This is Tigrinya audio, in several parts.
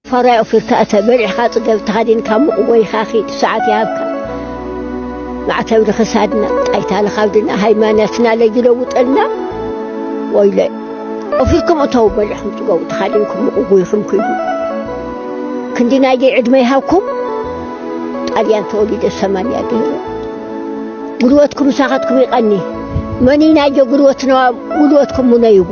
ፈራይ ኦፊርካ እተ በሊዕካ ጽገብ ተኸዲንካ ሙቕ ወይኻ ኺድ ሰዓት ይሃብካ ማዕተብ ንኽሳድና ጣይታ ንኻብድና ሃይማኖትና ለይለውጠልና ወይለ ኦፊርኩም እተው በሊዕኩም ጽገቡ ተኸዲንኩም ሙቕ ጎይኹም ክይዱ ክንዲ ናይ ደይ ዕድመ ይሃብኩም ጣልያን ተወሊደ ሰማንያ ገይረ ጉልበትኩም ሳኻትኩም ይቐኒ መኒ ናይ ደ ጉልበትና ጉልበትኩም ሙነይዎ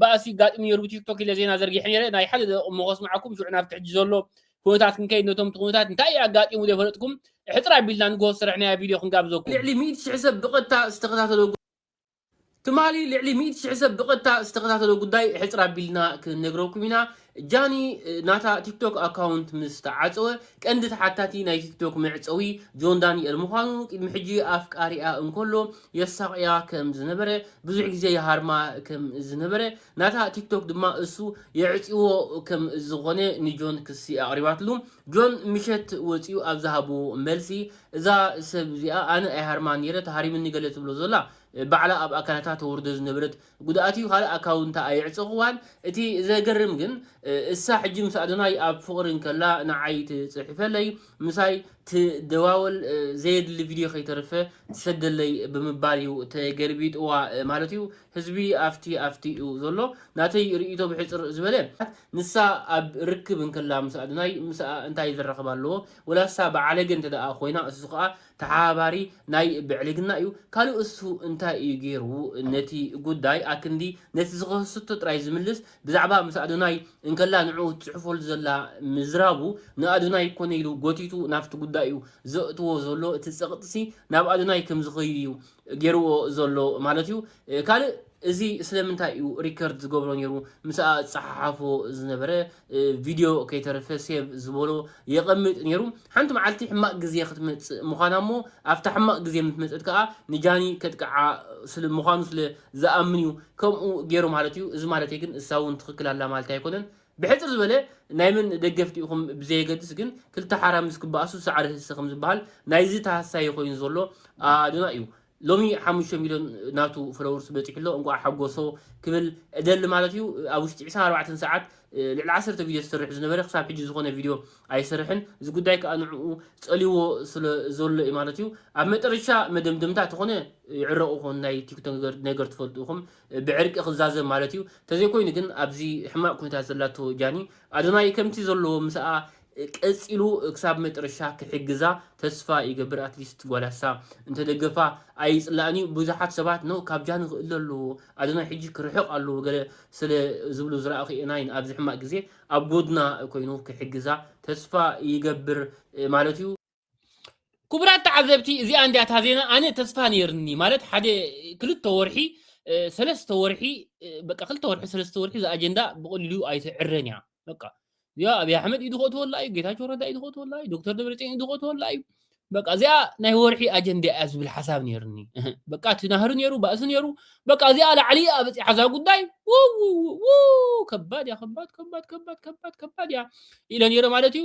ባእሲ ጋጥም ነይሩ ብቲክቶክ ኢለ ዜና ዘርጊሐ ነይረ ናይ ሓደ ደቂ እሞ ከስምዓኩም ሽዑ ናብቲ ሕጂ ዘሎ ኩነታት ክንከይድ ነቶም እቲ ኩነታት እንታይ እዩ ኣጋጢሙ ዘይፈለጥኩም ሕፅር ኣቢልና ንግሆ ዝሰራሕናያ ቪድዮ ክንጋብዘኩም ልዕሊ ሚእቲ ሽሕ ሰብ ብቐጥታ ዝተኸታተሎ ትማሊ ልዕሊ ሚእቲ ሽሕ ሰብ ብቐጥታ ዝተኸታተሎ ጉዳይ ሕፅር ኣቢልና ክንነግረኩም ኢና ጃኒ ናታ ቲክቶክ ኣካውንት ምስ ተዓጸወ ቀንዲ ተሓታቲ ናይ ቲክቶክ መዕጸዊ ጆን ዳኒኤል ምዃኑ ቅድሚ ሕጂ ኣፍቃሪኣ እንከሎ የሳቕያ ከም ዝነበረ ብዙሕ ግዜ ይሃርማ ከም ዝነበረ ናታ ቲክቶክ ድማ እሱ የዕጽዎ ከም ዝኾነ ንጆን ክሲ ኣቕሪባትሉ ጆን ምሸት ወጺኡ ኣብ ዝሃቦ መልሲ እዛ ሰብ እዚኣ ኣነ ኣይሃርማን ኔረ ተሃሪምኒ ገለ ትብሎ ዘላ ባዕላ ኣብ ኣካላታ ተወርዶ ዝነበረት ጉድኣትዩ ካልእ ኣካውንታ ኣየዕጸክዋን እቲ ዘገርም ግን እሳ ሕጂ ምስ ኣዶናይ ኣብ ፍቅሪ እንከላ ንዓይ ትጽሕፈለይ ምሳይ ትደዋወል ዘየድሊ ቪድዮ ከይተርፈ ትሰደለይ ብምባል እዩ ተገልቢጥዋ ማለት እዩ ህዝቢ ኣፍቲ ኣፍቲ እዩ ዘሎ ናተይ ርእይቶ ብሕጽር ዝበለ ንሳ ኣብ ርክብ እንከላ ምስ ኣዶናይ ምስኣ እንታይ ዘራክብ ኣለዎ ወላ እሳ ብዓለገ እንተደኣ ኮይና እሱ ከኣ ተሓባባሪ ናይ ብዕልግና እዩ ካልእ እሱ እንታይ እዩ ጌሩ ነቲ ጉዳይ ኣክንዲ ነቲ ዝኸሰቶ ጥራይ ዝምልስ ብዛዕባ ምስ ኣዶናይ እንከላ ንዕኡ ትጽሕፈሉ ዘላ ምዝራቡ ንኣዶናይ ኮነ ኢሉ ጎቲቱ ናብቲ ጉዳይ እዩ ዘእትዎ ዘሎ እቲ ጸቕጢሲ ናብ ኣዶናይ ከም ዝኸይድ እዩ ጌርዎ ዘሎ ማለት እዩ ካልእ እዚ ስለምንታይ እዩ ሪከርድ ዝገብሮ ነይሩ ምስኣ ዝፀሓሓፎ ዝነበረ ቪድዮ ከይተረፈ ሴቭ ዝበሎ የቐምጥ ነይሩ ሓንቲ መዓልቲ ሕማቕ ግዜ ክትመፅእ ምዃና እሞ ኣብታ ሕማቕ ግዜ ምስ መፀት ከዓ ንጃኒ ከጥቅዓ ስለ ምዃኑ ስለ ዝኣምን እዩ ከምኡ ገይሩ ማለት እዩ እዚ ማለተይ ግን እሳ እውን ትኽክል ኣላ ማለት ኣይኮነን ብሕጽር ዝበለ ናይ መን ደገፍቲ ኢኹም ብዘየገድስ ግን ክልተ ሓራምዝ ክበኣሱ ሳዕሪ ህሰ ከም ዝበሃል ናይዚ ተሃሳዪ ኮይኑ ዘሎ ኣድማ እዩ ሎሚ ሓሙሽተ ሚልዮን ናቱ ፎሎወርስ በጺሑ ኣሎ እንቋዕ ሓጎሶ ክብል እደሊ ማለት እዩ ኣብ ውሽጢ ዕስራን ኣርባዕተን ሰዓት ልዕሊ ዓሰርተ ቪድዮ ዝሰርሕ ዝነበረ ክሳብ ሕጂ ዝኾነ ቪድዮ ኣይሰርሕን እዚ ጉዳይ ከኣ ንዕኡ ጸልይዎ ስለ ዘሎ እዩ ማለት እዩ ኣብ መጠረሻ መደምደምታ ተኾነ ይዕረቑ ኮን ናይ ቲክቶክ ነገር ትፈልጡ ኢኹም ብዕርቂ ክዛዘም ማለት እዩ ተዘይኮይኑ ግን ኣብዚ ሕማቅ ኩነታት ዘላቶ ጃኒ ኣዶናይ ከምቲ ዘለዎ ምሳኣ ቀጺሉ ክሳብ መጥረሻ ክሕግዛ ተስፋ ይገብር ኣትሊስት ጓል ኣሳ እንተደገፋ ኣይጽላእን እዩ ብዙሓት ሰባት ን ካብ ጃኒ ክእለ ኣለዎ ኣዶናይ ሕጂ ክርሕቅ ኣለዎ ገለ ስለ ዝብሉ ዝራኣኩ እየ ናይን ኣብዚ ሕማቅ ግዜ ኣብ ጎድና ኮይኑ ክሕግዛ ተስፋ ይገብር ማለት እዩ። ክቡራት ተዓዘብቲ እዚኣ እንዲያ እታ ዜና ኣነ ተስፋ ነይርኒ ማለት ሓደ ክልተ ወርሒ ሰለስተ ወርሒ በቃ ክልተ ወርሒ ሰለስተ ወርሒ እዛ ኣጀንዳ ብቐሊሉ ኣይትዕረን እያ በቃ እዚኣ ኣብይ ኣሕመድ ኢዱ ክእትወላ እዩ ጌታቸው ረዳ ኢዱ ክእትወላ እዩ ዶክተር ደብረፅዮን ኢዱ ክእትወላ እዩ በቃ እዚኣ ናይ ወርሒ ኣጀንዳ እያ ዝብል ሓሳብ ነይርኒ በቃ እቲ ናህሪ ነይሩ ባእሲ ነይሩ በቃ እዚኣ ላዕሊ እያ በፂሓ እዛ ጉዳይ ውውውው ከባድ እያ ከባድ ከባድ ከባድ ከባድ ከባድ እያ ኢለ ነይረ ማለት እዩ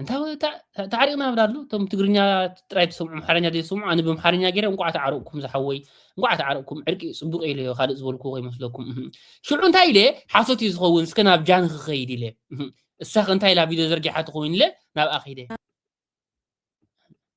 እንታይ ወይ እታ ታዕሪቕና ብላሉ እቶም ትግርኛ ጥራይ ትሰምዑ ኣምሓርኛ ዘይሰምዑ ኣነ ብምሓርኛ ገይረ እንቋዕ ተዓረቕኩም ዝሓወይ እንቋዕ ተዓረቕኩም ዕርቂ ፅቡቅ ኢለ ዮ ካልእ ዝበልኩ ከይመስለኩም ሽዑ እንታይ ኢለ ሓሶት እዩ ዝኸውን እስከ ናብ ጃን ክኸይድ ኢለ እሳኸ እንታይ ኢላ ቪድዮ ዘርጊሓ ትኸውን ኢለ ናብኣ ከይደ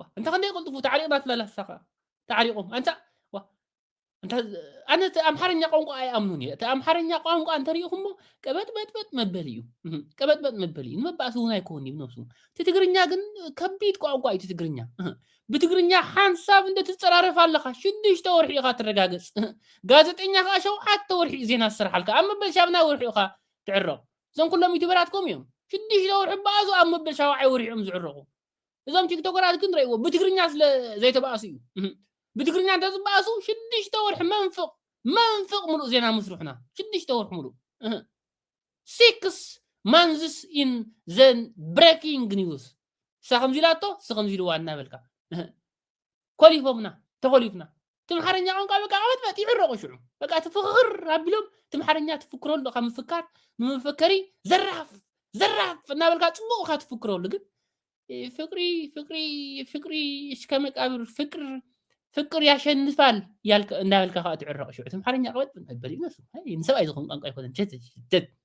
ዋ እንታ ክንደይ ቅልጥፉ ተዓሪቕና ትበላ ንሳ ከኣ ተዓሪቖም ኣንታ ዋ እንታ ኣነ እቲ ኣምሓርኛ ቋንቋ ኣይኣምኑን እየ እቲ ኣምሓርኛ ቋንቋ እንተሪኢኹሞ ቀበጥበጥበጥ መበሊ እዩ እህ፣ ቀበጥበጥ መበሊ እዩ ንመባእሲ እውን ኣይኮን እዩ ብነብሱ እቲ ትግርኛ ግን ከቢድ ቋንቋ እዩ እቲ ትግርኛ እህ፣ ብትግርኛ ሓንሳብ እንደ ትፀራረፍ ኣለኻ ሽዱሽተ ወርሒ ኢኻ ትረጋገፅ እህ፣ ጋዜጠኛ ከዓ ሸውዓተ ወርሒ እዩ ዜና ዝስርሓልካ ኣብ መበል ሻብናይ ወርሒ ኢኻ ትዕረቕ እዞም ኩሎም ዩቱበራት ከምኡ እዮም ሽዱሽተ ወርሒ በኣዙ ኣብ መበል ሻውዓይ ወርሒ እዮም ዝዕረቑ እዞም ቲክቶከራት ግን ረእዎ ብትግርኛ ስለ ዘይተባእሱ እዩ ብትግርኛ እንተዝባእሱ ሽዱሽተ ወርሒ መንፍቕ መንፍቕ ምሉእ ዜና ምስርሑና ሽዱሽተ ወርሒ ምሉእ ሲክስ ማንዝስ ኢን ዘን ብሬኪንግ ኒውስ እሳ ከምዚ ኢላቶ እሲ ከምዚ ኢልዋ እናበልካ ኮሊፎምና ተኾሊፍና ትምሓርኛ ቋንቋ በቃ ቀበጥበጥ ይዕረቑ ሽዑ በቃ ትፍኽር ኣቢሎም ትምሓርኛ ትፍክረሉ ካብ ምፍካር ንመፈከሪ ዘራፍ ዘራፍ እናበልካ ፅቡቕ እካ ትፍክረሉ ግን ፍቅሪ ፍቅሪ ፍቅሪ እስከ መቃብር ፍቅር ፍቅር ያሸንፋል እንዳበልካ ከዓ ትዕረቕ ሽዑ ትምሓርኛ ቀበጥ ነበር ይነሱ ንሰብኣይ ዝኸውን ቋንቋ ኣይኮነን ሸት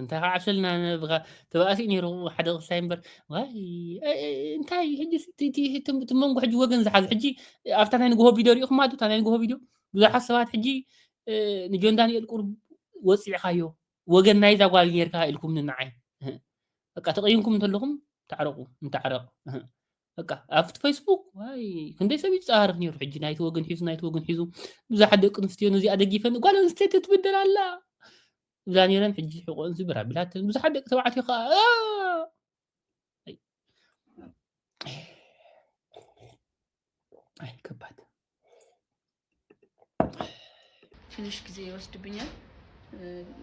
እንታይ ክዓብሰልና ተባእሲኡ ነይሩ ሓደ ቅሳይ እምበር እንታይ እቲ መንጎ ሕጂ ወገን ዝሓዘ ሕጂ ኣብታ ናይ ንግሆ ቪድዮ ሪኢኹማ ዶ እታ ናይ ንግሆ ቪድዮ ብዙሓት ሰባት ሕጂ ንጆን ዳንኤል ቁርብ ወፂዕካዮ ወገን ናይዛ ጓል ጌርካ ኢልኩም ንዓይ በቃ ተቐይምኩም እንተለኹም ተዕረቑ እንተዕረቕ በቃ ኣብቲ ፌስቡክ ዋይ ክንደይ ሰብ ይፀሃርፍ ነይሩ ሕጂ ናይቲ ወገን ሒዙ ናይቲ ወገን ሒዙ ብዙሓት ደቂ ኣንስትዮ ነዚኣ ደጊፈን ጓል ኣንስተይቲ ትብደል ኣላ እዛ ነይረን ሕጂ ሕቆን ዝብር ኣቢላተን ብዙሓት ደቂ ተባዕትዮ ከዓ ኣይ ከባድ ትንሽ ጊዜ ይወስድብኛል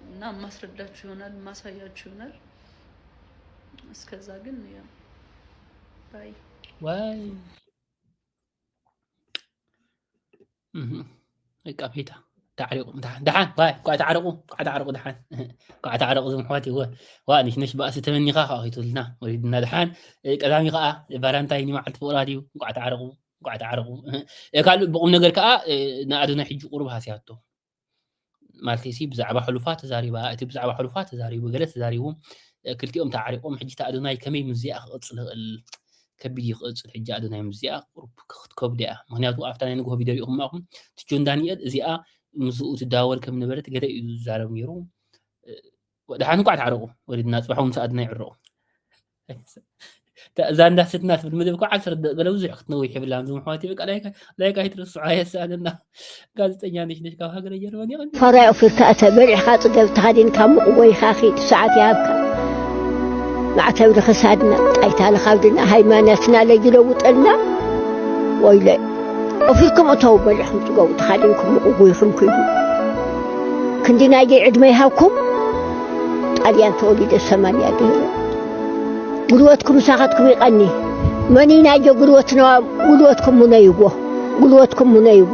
እና ማስረዳችሁ ይሆናል ማሳያችሁ ይሆናል። እስከዛ ግን ያው ባይ ዋይ ቀፌታ ተዕሪቑ ደሓን ኳዕ ተዓረቑ ኳዕ ተዓረቑ ደሓን ኳዕ ተዓረቑ ዝም ኣሕዋት ይወ ዋ ንሽነሽ ባእሲ ተመኒኻ ከዓ ከይትብልና ወሪድና ደሓን ቀዳሚ ከዓ ባራንታይ ንመዓልቲ ፍቕራ ድዩ ኳዕ ተዓረቑ ኳዕ ተዓረቑ ካልእ ብቑም ነገር ከዓ ንኣዶናይ ሕጂ ቁሩብ ሃስያቶ ማለት ሲ ብዛዕባ ሕሉፋ ተዛሪባ እቲ ብዛዕባ ሕሉፋ ተዛሪቡ ገለ ተዛሪቡ ክልቲኦም ተዓሪቆም ሕጂ ኣዶናይ ከመይ ምዚኣ ክቕፅል ይኽእል ከቢድ እዩ ክቕፅል ሕጂ ኣዶናይ ምዚኣ ቁሩብ ክትከብዶ እያ ምክንያቱ ኣብታ ናይ ንግሆ ቪድዮ ሪኢኹም ማኹም እቲ ጆን ዳንኤል እዚኣ ምስኡ ትዳወል ከም ነበረት ገለ እዩ ዝዛረብ ነይሩ ወድሓን እንኳዕ ተዓረቑ ወሪድና ፅባሕ ምስ ኣድና ይዕረቑ እዛ እንዳ ስትና ትብል ምድብ እኮ ዓሰርተ ደቂ ገለ ብዙሕ ክትነዊሕ ይብላ ዚ ምሕዋት ይበቃ ላይካ ይትርስዖ ኣየሰኣነና ጋዜጠኛ ነሽ ነሽ ካብ ሃገረ ጀርመን ይቐኒ ፈራይ ኦፊርካ እተ በሊዕካ ፅገብ ተኸዲንካ ሙቕ ወይኻ ኺድ ሰዓት ይሃብካ ማዕተብ ንኽሳድና ጣይታ ንኻብድና ሃይማኖትና ለይለውጠልና ወይለ ኦፊርኩም እተው በሊዕኩም ፅገቡ ተኻዲንኩም ሙቕ ወይኹም ክይዱ ክንዲ ናይዘይ ዕድመ ይሃብኩም ጣልያን ተወሊደ ሰማንያ ገይረ ጉልበትኩም ሳኻትኩም ይቐኒ መኒ ናይዘ ጉልበት ነዋ ጉልበትኩም ሙነይዎ ጉልበትኩም ሙነይዎ